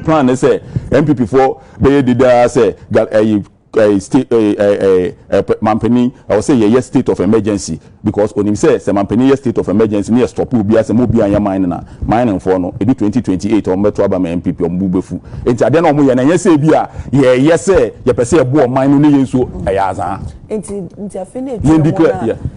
Plan ne sɛ NPP foɔ bɛyɛ dede ara sɛ Gal ɛyi ɛyi state ɛyi ɛyi ɛyi ɛɛ manpanin ɛwɔ sɛ yɛyɛ state of emergency because onim sɛ sɛ manpanin yɛ state of emergency ne yɛ stop obiara sɛ mo obiara nyɛ mine na mining foɔ no edu twenty twenty eight wɔn bɛto aba ma NPP wɔn bo bɛfu nti adeɛ na wɔn yɛ no ɛnyɛ sɛ ebia yɛyɛ sɛ yɛpɛ sɛ yɛboa ɔman no ne yɛn nso ɛyɛ azaa. Nti nti afei na etu wɔn a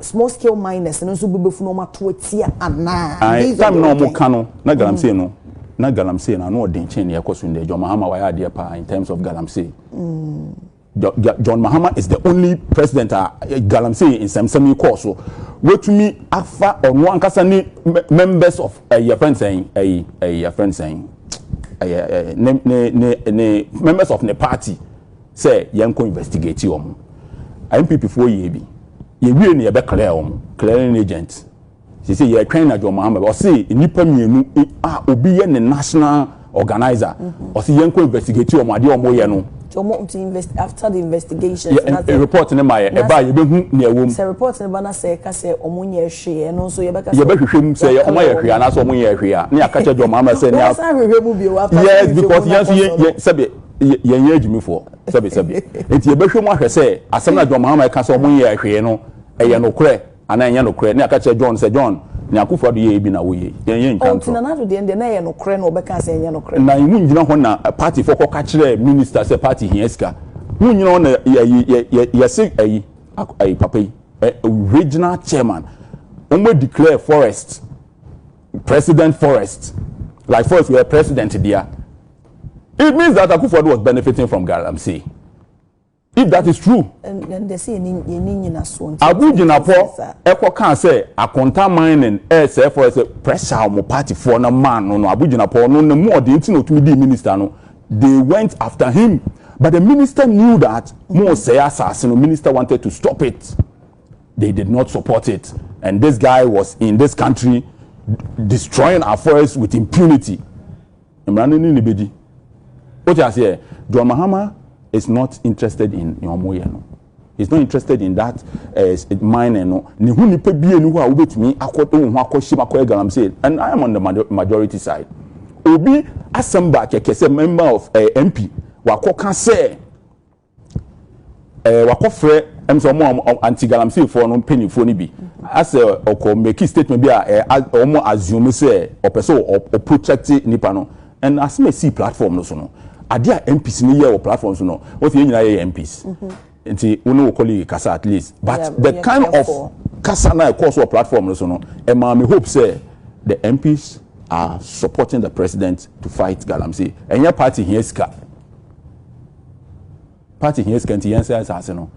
small scale miners no nso bɛbɛfu na wɔato atia anaa. ae time na wɔn ka no na mm. galamsey no na galamsey no ano ɔden kyɛn nea ɛkɔ so ndɛ john mahama wayɛ adeɛ paa in terms of galamsey. Mm. John Mahama is the only president a eh, galamsey nsɛmsɛm yi kɔɔ so wetumi afa ɔno ankasa ne members of ɛyɛ eh, fɛn sɛn ɛyɛ ɛyɛ fɛn sɛn ɛyɛ ɛyɛ ne ne ne ne members of ne party sɛ yɛnkɔ investigate wɔn. NPP foɔ yɛɛ bi. Yɛwie no yɛbɛ clear wɔn. Clearing agent. Sese yɛtwɛn na John Mahama bɛ. Ɔse nnipa mmienu a obi yɛ ne national organizer. Mm-hmm. Ɔse yɛnkɔ investigate wɔn adeɛ wɔn yɛ no. After the investigation. Yɛ report ne ma yɛ. Ɛba yɛbɛ hu nea ɛwɔ mu. Sɛ report ne ba na sɛ ɛka sɛ wɔn nyɛ hwee ɛno nso yɛbɛ ka sɛ. Yɛbɛ hwehwɛ mu sɛ wɔn ayɛ hwee anaasɛ wɔn nyɛ hwee a ne yɛ akakyɛ John Mahama sɛ ne. Wɔn san hwehwɛ mu bio after. Yes because yɛn nso yɛ sɛbi. yɛnyɛ agyimifoɔ sɛbesɛbe nti yɛbɛhwɛ mu ahwɛ sɛ asɛm na John Mahama ɛka sɛ ɔmo nyɛ ahwee no ɛyɛ nokorɛ anaa ɛnyɛ nokorɛ ne aka kyerɛ John sɛ John ne akufo ado yɛyɛ bi na woyɛ yɛnyɛ ntwa ntorɔ. Nana ado deɛ na ɛyɛ nokorɛ na ɔbɛka sɛ ɛnyɛ nokorɛ. Na emu nyina hɔ na party fo kɔka kyerɛ minister sɛ party hia sika mu nyina hɔ na yɛse ɛyi ɛyi papa yi regional chairman ɔmo declare forest president forest like forest wɔ president dea. It means that Akufo-Addo was benefiting from Galamsey. If that is true, Agu Gyinapɔ ɛkɔ kaa sɛ Akonta mining ɛɛsɛɛ forest sɛ pressure a wɔn party foɔ no maa no no, Agu Gyinapɔ no ne mu ɔden nti na ɔtumi dii minister no, they went after him but the minister knew that moresɛe asaase no, minister wanted to stop it, they did not support it and this guy was in this country destroying our forest with impunity. Mmara no ne no bɛdi. Wote aseɛ? John Mahama is not interested in nea wɔn yɛ no. He is not interested in that uh, mining no. Ne ho nipa bie ni hɔ a wobɛtumi akɔ wo ho akɔ hyem akɔyɛ galamsey. And I am on the majority side. Obi asɛm ba kɛkɛ sɛ member of uh, eh, MP wakɔ ka sɛ Eh, wakɔfrɛ ɛm sɛ wɔn a anti-galamseyfoɔ no mpanimfoɔ no bi asɛ ɔkɔ mmeki statement bi a wɔn assume sɛ ɔpɛ sɛ ɔprotect nipa no ɛna asɛm a ɛsii platform no so no adeɛ a MPs no yɛ wɔ platform so no wɔn sɛ yɛn nyinaa yɛyɛ MPs mhm. nti wo ne wo colleague kasa at least but the kind of kasa na ɛkɔɔ so wɔ platform no so no ɛmaa me hope sɛ the MPs are supporting the president to fight galamsey ɛnyɛ party hia sika Party hia sika nti yɛnsɛ asase no.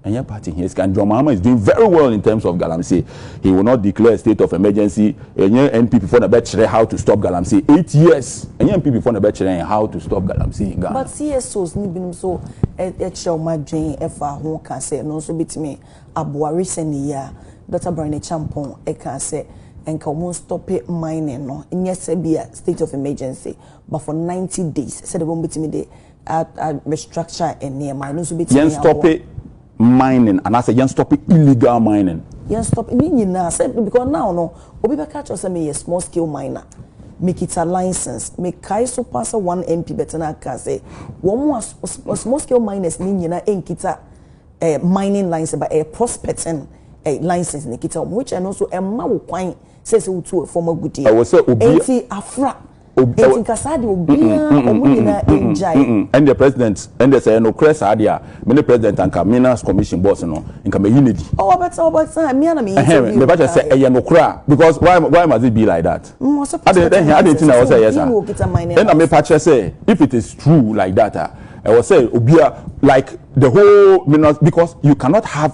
Ɛnyɛ party hia sika. John Mahama is doing very well in terms of galamsey. He will not declare a state of emergency. Ɛnyɛ NPP fo na bɛkyerɛ how to stop galamsey. Eight years. Ɛnyɛ NPP fo na bɛkyerɛ yɛn how to stop galamsey in Ghana. But CSOs ne binom nso kyerɛ wɔn adwene fa ho ka sɛ ɛno nso betumi aboa. Recently yi ara, Dɔkta Brian Acheampong kaa sɛ nka wɔnstɔpe mining no, nyɛ sɛ ebia state of emergency. but for ninety days sɛdeɛ wɔn bɛtumi de a a restructure nneɛma ɛno nso bɛtumi aboa. yɛn stɔpe mining anaasɛ yɛn stɔpe illegal mining. yɛn stɔpe ne nyinaa sɛ because now no obi bɛka kyerɛ sɛ meyɛ small scale miner mekita license mekae so paa sɛ one MP bɛtena aka sɛ wɔn a small scale miners ne nyinaa nkita ɛɛ eh, mining license but ɛyɛ eh, prospecting ɛɛ eh, license ne kita wɔn which ɛno nso ɛma wo kwan sɛ sɛ wotu fam agudeɛ ɛwɔ sɛ obi eti afra. obi. Eti nka saa deɛ obiara wɔn nyinaa ngyae. Ɛndeɛ president ɛndeɛ sɛ ɛyɛ nokorɛ saa deɛ a me ne president anka minas commission boss no nka mɛyi no adi. Oh ɔbɛtena ɔbɛtena mia na meyɛ interview. Ɛhɛn mɛbɛkyɛ sɛ ɛyɛ nokorɛ a because why why must it be like that. Ade ɛhɛn ade nti na ɛwɔ sɛ ɛyɛ saa. Ɛna mepa kyɛ sɛ if it is true like that a ɛwɔ sɛ obia like the whole minas because you cannot have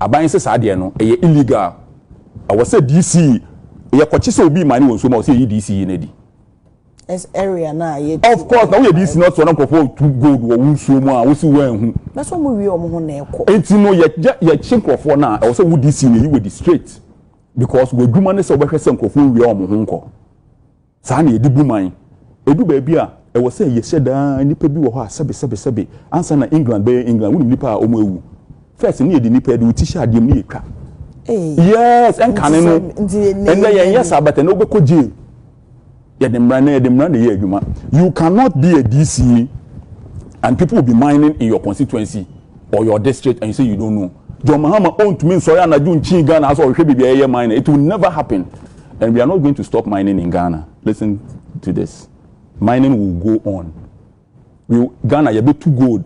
aban sɛ saa deɛ no ɛyɛ illegal ɛwɔ sɛ DC yɛ kɔkye sɛ obi mane wɔ nsuo mu a ɔsɛ yɛyi DC yi no adi as area na yɛ of course na woyɛ DC na ɔtɔ na nkurɔfoɔ tu gold wɔ wo nsuo mu a wosi wɔn ahu na so wɔn wie wɔn ho na ɛkɔ enti no yɛ yɛ kye nkurɔfoɔ no a ɛwɔ sɛ wo DC na ɛyi wɔ di straight because wɔ adwuma ne sɛ wɔbɛhwɛ sɛ nkurɔfoɔ wie wɔn ho nkɔ. Saa na yɛde bu man. Edu baabi a, ɛwɔ sɛ yɛhyɛ da ara nnipa bi wɔ hɔ a sɛbe sɛbe sɛbe ansa na England bɛyɛ England. Wonim nnipa a wɔawu? First no yɛde nnipa, yɛde wo ti hyɛ adeɛ mu na yɛtwa. Yes, ɛnkane no. Ɛnnɛ yɛnyɛ saa but ɛnnɛ wobɛkɔ jail. Yɛde mmara, ɛnnɛ yɛde mmara na ɛyɛ adwuma. You cannot be a DC and people will be mining in your constituency or your district and you say you don't know. John Mahama ɔntumi nsɔre anadwo nkyii Ghana asɛ ɔhwehwɛ baabi a yɛyɛ mine. It will never happen. And we are not going to stop mining in Ghana listen to this mining will go on we Ghana yɛbɛ tu gold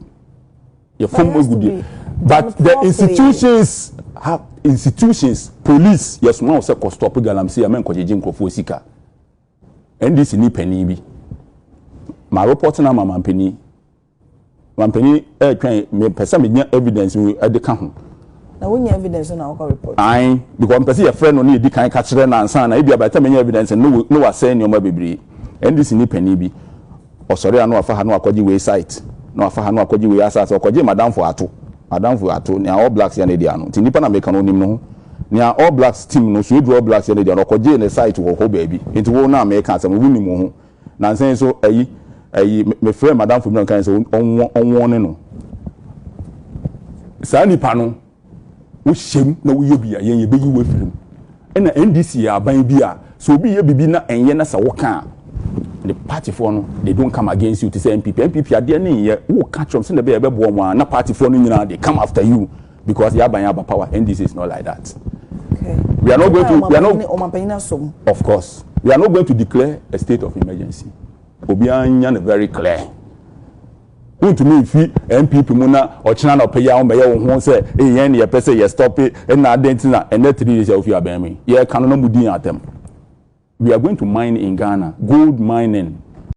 yɛ fam egu deɛ but the institutions have institutions police yɛ soma wɔ sɛ kɔ stop galamsey amɛ nkɔ gyegye nkorɔfoɔ sika ndc ni panyin bi ma report na ama ma panyin. Manpanin ɛretwɛn mepɛ sɛ menya evidence mu ɛde ka ho. Na wonya evidence na wokɔ report? Ae because mepɛ sɛ yɛfrɛ no na yɛdi kan ka kyerɛ no ansa na ebia by the time yɛnya evidence no na wasɛe nneɛma bebree. NDC ni panin bi ɔsɔre a na wafa ha na wakɔgye wei site na wafa ha na wakɔgye wei asase ɔkɔgyee madamfo ato madamfo ato nea All Blacks yɛ no dea no nti nipa na meka no onim ne ho nea All Blacks team no so eduru All Blacks yɛ no dea no ɔkɔgyee ne site wɔ hɔ baabi nti wo no a meka asɛm no wonim wo ho Nansa yi nso ayi ayi mefrɛɛ madamfo bi na ɔkae sɛ ɔnwɔne no. Saa nipa no wohyɛm na woyɛ bi a yɛn yɛbɛyi wo afiri mu. Ɛna NDC yɛ aban bi a sɛ obi yɛ biribi na ɛnyɛ na sɛ woka a ne partyfoɔ no they don't come against you te sɛ NPP. NPP adeɛ ne nyɛ woka kyerɛ wɔn sɛdeɛ ɛbɛyɛ ɛbɛboa wɔn a na partyfoɔ no nyinaa they come after you. Because yaba yɛn aba power NDC is not like that we are not going to we are not ɔmanpanyin asom of course we are not going to declare a state of emergency obiara nya no very clear wontumi mfi npp mu na ɔkyena na ɔpɛyɛ ahom bɛyɛ wo ho sɛ yɛn ne yɛpɛ sɛ yɛ stop it ɛna adɛn ti na ɛnɛ three days a wofi abɛn mu yɛka no na mu di yɛn atɛm we are going to mine in ghana gold mining